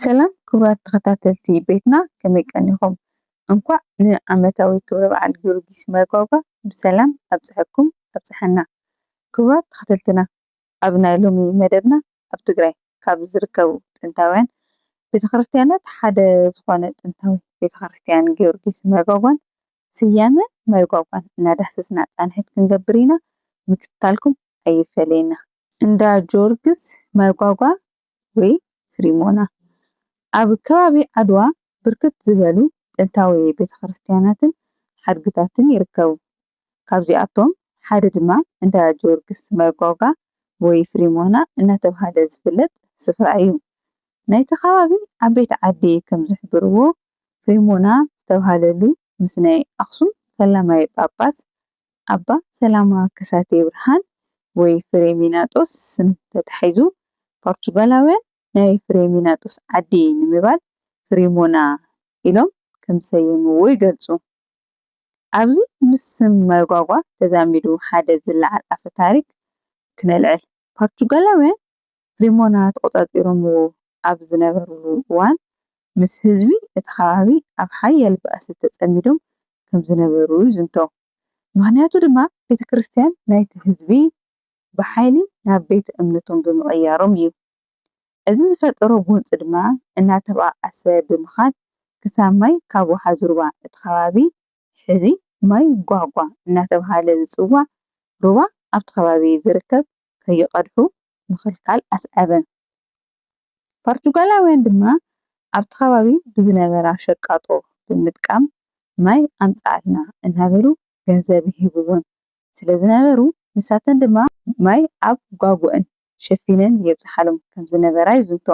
ሰላም ክቡራት ተኸታተልቲ ቤትና ከመይ ቀኒኹም እንኳዕ ን ዓመታዊ ክብረ በዓል ጊዮርጊስ መርጓጓ ብሰላም ኣብፀሐኩም ኣብፀሐና ክቡራት ተኸተልትና ኣብ ናይ ሎሚ መደብና ኣብ ትግራይ ካብ ዝርከቡ ጥንታውያን ቤተክርስትያናት ሓደ ዝኾነ ጥንታዊ ቤተክርስትያን ጊዮርጊስ መርጓጓን ስያመ መርጓጓን እናዳህሰስና ፃንሒት ክንገብር ኢና ምክትታልኩም ኣይፈለየና። እንዳ ጊዮርግስ መርጓጓ ወይ ፍሪሞና፣ ኣብ ከባቢ ዓድዋ ብርክት ዝበሉ ጥንታዊ ቤተክርስትያናትን ሓድግታትን ይርከቡ። ካብዚኣቶም ሓደ ድማ እንዳ ጀወርግስ መርጓጓ ወይ ፍሪሞና እናተብሃለ ዝፍለጥ ስፍራ እዩ። ናይቲ ከባቢ ዓበይቲ ዓዲ ከምዝሕብርዎ ፍሪሞና ዝተብሃለሉ ምስ ናይ ኣኽሱም ፈላማይ ጳጳስ ኣባ ሰላማ ከሳቴ ብርሃን ወይ ፍሬሚናጦስ ስም ተታሒዙ ፓርቱጋላውያን ናይ ፍሬሚናጦስ ዓዲ ንምባል ፍሪሞና ኢሎም ከምዝሰየምዎ ይገልጹ። ኣብዚ ምስ ስም መርጓጓ ተዛሚዱ ሓደ ዝለዓል ኣፈ ታሪክ ክነልዕል። ፓርቱጋላውያን ሪሞና ተቖጻጺሮምዎ ኣብ ዝነበርሉ እዋን፣ ምስ ህዝቢ እቲ ከባቢ ኣብ ሓያል ባእሲ ተጸሚዶም ከም ዝነበሩ ይዝንቶ። ምኽንያቱ ድማ ቤተ ክርስቲያን ናይቲ ህዝቢ ብሓይሊ ናብ ቤተ እምነቶም ብምቕያሮም እዩ። እዚ ዝፈጠሮ ጎንጺ ድማ እናተባኣሰ ብምኻድ ክሳብ ማይ ካብ ወሓዝ ሩባ እቲ ከባቢ፣ ሕዚ ማይ ጓጓ እናተብሃለ ዝጽዋዕ ሩባ ኣብቲ ከባቢ ዝርከብ ከይቐድሑ ምኽልካል ኣስዐበ። ፓርቱጋላውያን ድማ ኣብቲ ከባቢ ብዝነበራ ሸቃጦ ብምጥቃም ማይ ኣምጽኣልና እናበሉ ገንዘብ ይህብወን ስለ ዝነበሩ፣ ንሳተን ድማ ማይ ኣብ ጓጉእን ሸፊነን የብጽሓሎም ከም ዝነበራ ይዝንቶ።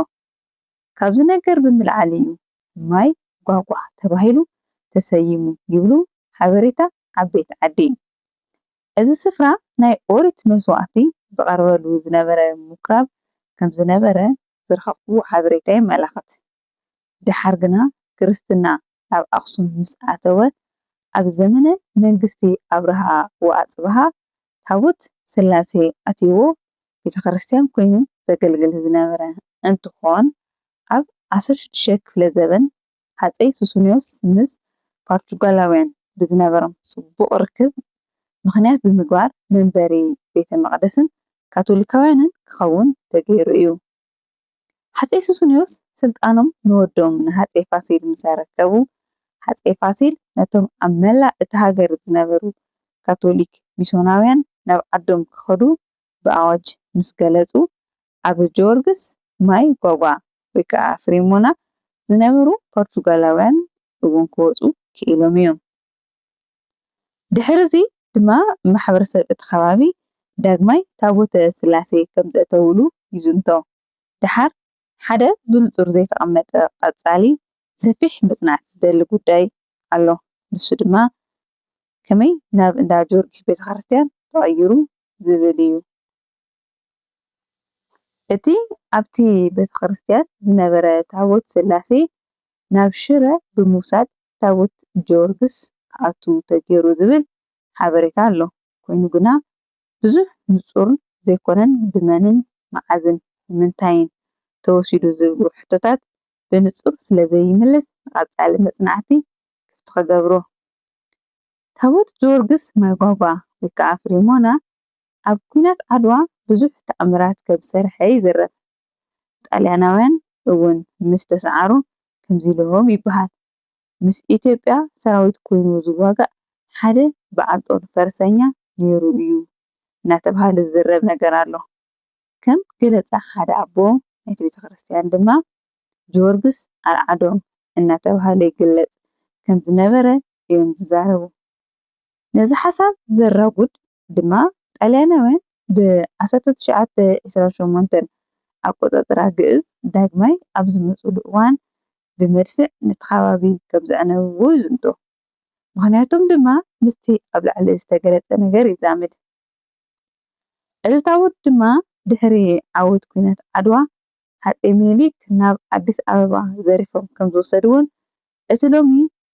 ካብዚ ነገር ብምልዓል እዩ ማይ ጓጓ ተባሂሉ ተሰይሙ ይብሉ ሓበሬታ ዓበይቲ ዓዲ። እዚ ስፍራ ናይ ኦሪት መስዋእቲ ዝቐርበሉ ዝነበረ ምኵራብ ከም ዝነበረ ዝረኸብኩዎ ሓበሬታ የመላኽት። ደሓር ግና ክርስትና ኣብ ኣኽሱም ምስ ኣተወ ኣብ ዘመነ መንግስቲ ኣብርሃ ወኣጽብሃ ታቦት ስላሴ ኣትይዎ ቤተ ክርስቲያን ኮይኑ ዘገልግል ዝነበረ እንትኾን ኣብ ዓሰርተ ሽዱሽተ ክፍለ ዘበን ሃጸይ ሱስንዮስ ምስ ፓርቹጋላውያን ብዝነበሮም ጽቡቕ ርክብ ምኽንያት ብምግባር መንበሪ ቤተ መቕደስን ካቶሊካውያንን ክኸውን ተገይሩ እዩ። ሃጸይ ሱስንዮስ ስልጣኖም ንወዶም ንሃጸይ ፋሲል ምስ ኣረከቡ፣ ሃጸይ ፋሲል ነቶም ኣብ መላእ እታ ሃገር ዝነበሩ ካቶሊክ ሚስዮናውያን ናብ ዓዶም ክኸዱ ብኣዋጅ ምስ ገለጹ፣ ኣብ ጀወርግስ ማይ ጓጓ ወይ ከኣ ፍሬሞና ዝነበሩ ፖርቱጋላውያን እውን ክወጹ ክኢሎም እዮም። ድሕርዚ ድማ ማሕበረሰብ እቲ ከባቢ ዳግማይ ታቦተ ስላሴ ከም ዘእተውሉ ይዝንቶ። ደሓር ሓደ ብንጹር ዘይተቐመጠ ቀጻሊ ሰፊሕ መጽናዕቲ ዝደሊ ጉዳይ ኣሎ። ንሱ ድማ ከመይ ናብ እንዳ ጀወርጊስ ቤተክርስትያን ተቐይሩ ዝብል እዩ። እቲ ኣብቲ ቤተ ክርስቲያን ዝነበረ ታቦት ስላሴ ናብ ሽረ ብምውሳድ ታቦት ጀወርግስ ክኣቱ ተገይሩ ዝብል ሓበሬታ ኣሎ። ኮይኑ ግና ብዙሕ ንፁር ዘይኮነን ብመንን መዓዝን ብምንታይን ተወሲዱ ዝብሉ ሕቶታት ብንፁር ስለዘይምልስ ንቐፃሊ መፅናዕቲ ክፍቲ ክገብሮ። ታቦት ጀወርግስ ማይጓጓ ወይ ከዓ ፍሬሞና ኣብ ኩናት ዓድዋ ብዙሕ ተኣምራት ከም ዝሰርሐ ይዝረብ። ጣልያናውያን እውን ምስ ተሰዓሩ ከምዚ ኢሎም ይበሃል። ምስ ኢትዮጵያ ሰራዊት ኮይኑ ዝዋጋእ ሓደ በዓል ጦር ፈረሰኛ ነይሩ እዩ እናተብሃለ ዝዝረብ ነገር ኣሎ። ከም ገለፃ ሓደ ኣቦ ናይቲ ቤተክርስትያን ድማ ጅወርግስ ኣርዓዶም እናተብሃለ ይግለፅ ከም ዝነበረ እዮም ዝዛረቡ። ነዚ ሓሳብ ዘራጉድ ድማ ጣልያናውያን ብ ዓሰርተ ትሽዓተ ዕስራን ሸሞንተን ኣቆጻጽራ ግእዝ ዳግማይ ኣብ ዝመጽሉ እዋን ብመድፍዕ ነቲ ከባቢ ከም ዘዕነውዎ ይዝንቶ። ምኽንያቶም ድማ ምስቲ ኣብ ላዕሊ ዝተገለጸ ነገር ይዛመድ። ዕለታዊ ድማ ድሕሪ ዓወት ኲናት ዓድዋ ሃጸይ ሚኒሊክ ናብ ኣዲስ ኣበባ ዘሪፎም ከም ዝወሰድዎን እቲ ሎሚ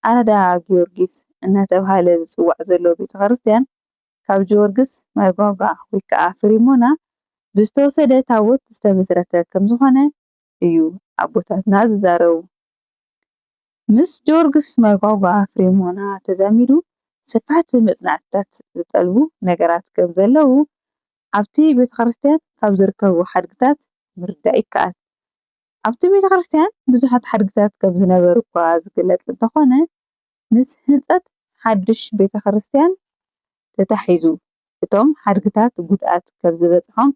ኣራዳ ጊዮርጊስ እናተብሃለ ዝጽዋዕ ዘሎ ቤተ ክርስቲያን ካብ ጅወርግስ ማይጓጓ ወይ ከኣ ፍሪሞና ብዝተወሰደ ታቦት ዝተመስረተ ከም ዝኾነ እዩ ኣቦታትና ዝዛረቡ። ምስ ጆርግስ መርጓጓ ፍሬሞና ተዛሚዱ ሰፋሕቲ መጽናዕትታት ዝጠልቡ ነገራት ከም ዘለዉ ኣብቲ ቤተክርስትያን ካብ ዝርከቡ ሓድግታት ምርዳእ ይከኣል። ኣብቲ ቤተክርስትያን ብዙሓት ሓድግታት ከም ዝነበሩ'ኳ ዝግለጽ እንተኾነ ምስ ህንጸት ሓድሽ ቤተክርስትያን ተታሒዙ እቶም ሓድግታት ጉድኣት ከም ዝበጽሖም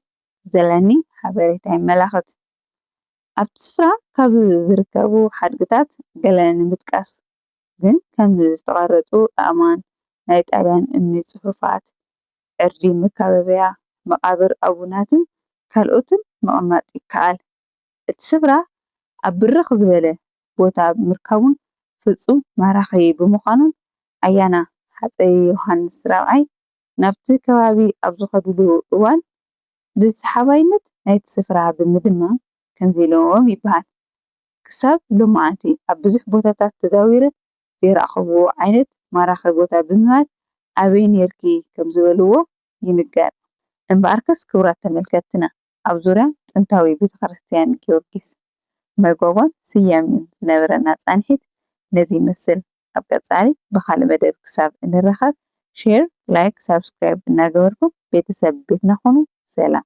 ዘለኒ ሓበሬታ የመላኽት። ኣብቲ ስፍራ ካብ ዝርከቡ ሓድግታት ገለ ንምጥቃስ ግን ከም ዝተቐረፁ ኣእማን፣ ናይ ጣልያን እምኒ ፅሑፋት፣ ዕርዲ መካበብያ፣ መቓብር ኣቡናትን ካልኦትን ምቕማጥ ይከኣል። እቲ ስፍራ ኣብ ብርኽ ዝበለ ቦታ ምርካቡን ፍፁም ማራኺ ብምዃኑን ኣያና ሃፀይ ዮሃንስ ራብዓይ ናብቲ ከባቢ ኣብ ዝኸድሉ እዋን ብሰሓባይነት ናይቲ ስፍራ ብምድማም ከምዚ ኢሎም ይበሃል፣ ክሳብ ሎማዓንቲ ኣብ ብዙሕ ቦታታት ተዛዊረ ዘይረኣኹዎ ዓይነት ማራኺ ቦታ ብምባል ኣበይ ኔርኪ ከምዝበልዎ ይንገር። እምበኣርከስ ክቡራት ተመልከትትና ኣብ ዙርያ ጥንታዊ ቤተክርስትያን ጊዮርጊስ መርጎጎን ስያሜኡን ዝነበረና ፃንሒት ነዚ ይመስል። ኣብ ቀፃሊ ብካልእ መደብ ክሳብ እንራከብ ሼር ላይክ ሳብስክራይብ እናገበርኩም ቤተሰብ ቤትና ኩኑ ሰላም።